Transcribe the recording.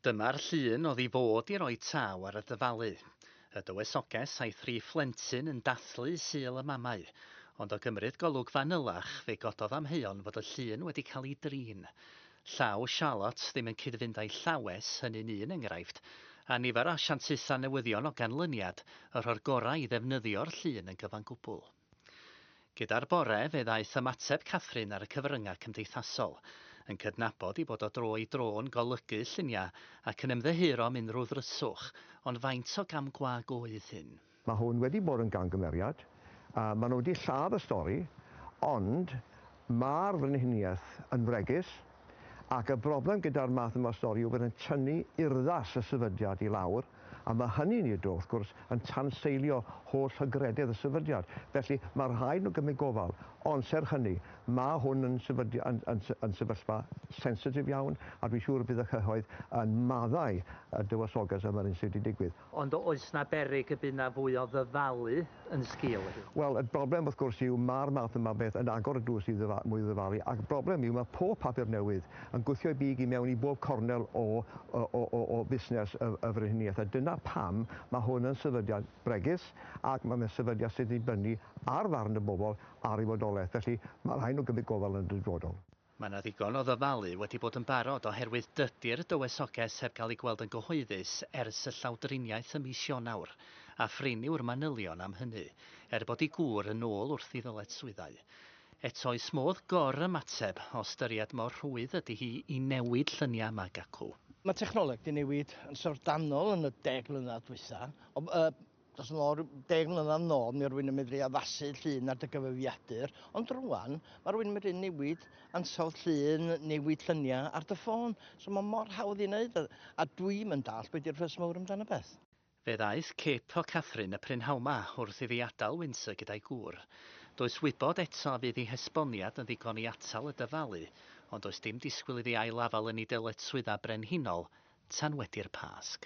Dyma'r llun oedd i fod i roi taw ar y dyfalu. Y dywysoges a'i thri phlentyn yn dathlu Sul y Mamau. Ond o gymryd golwg fanylach, fe gododd amheuon fod y llun wedi cael ei drin. Llaw Charlotte ddim yn cyd-fynd â'i llawes, hynny'n un enghraifft, a nifer o asiantaethau newyddion o ganlyniad, y rho'r gorau i ddefnyddio'r llun yn gyfan gwbl. Gyda'r bore, fe ddaeth ymateb Catherine ar y cyfryngau cymdeithasol, yn cydnabod ei bod o dro i dro'n golygu lluniau ac yn ymddiheuro am unrhyw ddryswch, ond faint o gam gwag oedd hyn? Mae hwn wedi bod yn gamgymeriad, a mae nhw wedi lladd y stori, ond Mae'r frenhiniaeth yn fregus, ac y broblem gyda'r math yma o stori yw bod e'n tynnu urddas y sefydliad i lawr, a mae hynny'n ei dro, wrth gwrs, yn tanseilio holl hygrededd y sefydliad. Felly, mae rhaid nhw gymryd gofal. Ond, serch hynny, mae hwn yn sefydli- yn, yn, yn sefyllfa sensitif iawn, a dwi'n siŵr y bydd y cyhoedd yn maddau y Dywysoges am yr hyn sydd wedi digwydd. Ond oes 'na beryg y bydd 'na fwy o ddyfalu yn sgil hyn? Wel, y broblem wrth gwrs yw ma'r math yma o beth yn agor y drws i ddyfa- mwy o ddyfalu, a'r broblem yw ma' pob papur newydd yn gwthio ei big i mewn i bob cornel o o o o o fusnes y y frenhiniaeth, a dyna pam ma' hwn yn sefydliad bregus, ac ma' fe'n sefydliad sy'n dibynnu ar farn y bobol ar ei fodolaeth. Felly, ma' rhai' nw gymryd gofal yn y dyfodol. Mae 'na ddigon o ddyfalu wedi bod yn barod oherwydd dydi'r dywysoges heb gael ei gweld yn gyhoeddus ers y llawdriniaeth ym mis Ionawr, a phrin yw'r manylion am hynny, er bod ei gŵr yn ôl wrth i ddyletswyddau. Eto oes modd gor-ymateb, o ystyried mor rhwydd ydi hi i newid lluniau mag acw. Mae technoleg 'di newid yn syfrdanol yn y deg mlynedd dwytha, ond Dros yn ôl rhyw deg mlynedd yn ôl, mi oedd rwy'n yn medru addasu llun ar dy gyfrifiadur, ond rwan, mae rwy'n medru newid ansawdd llun, newid lluniau ar dy ffôn. So mae mor hawdd ei wneud, a, a dwi'm yn dallt be di'r fuss mawr amdano beth. Fe ddaeth cip o Catherine y prynhawma wrth i fi adael Windsor gyda'i gŵr. Does wybod eto a fydd ei hesboniad yn ddigon i atal y dyfalu, ond does dim disgwyl iddi ail-afael yn ei dyletswyddau brenhinol tan wedi'r Pasg.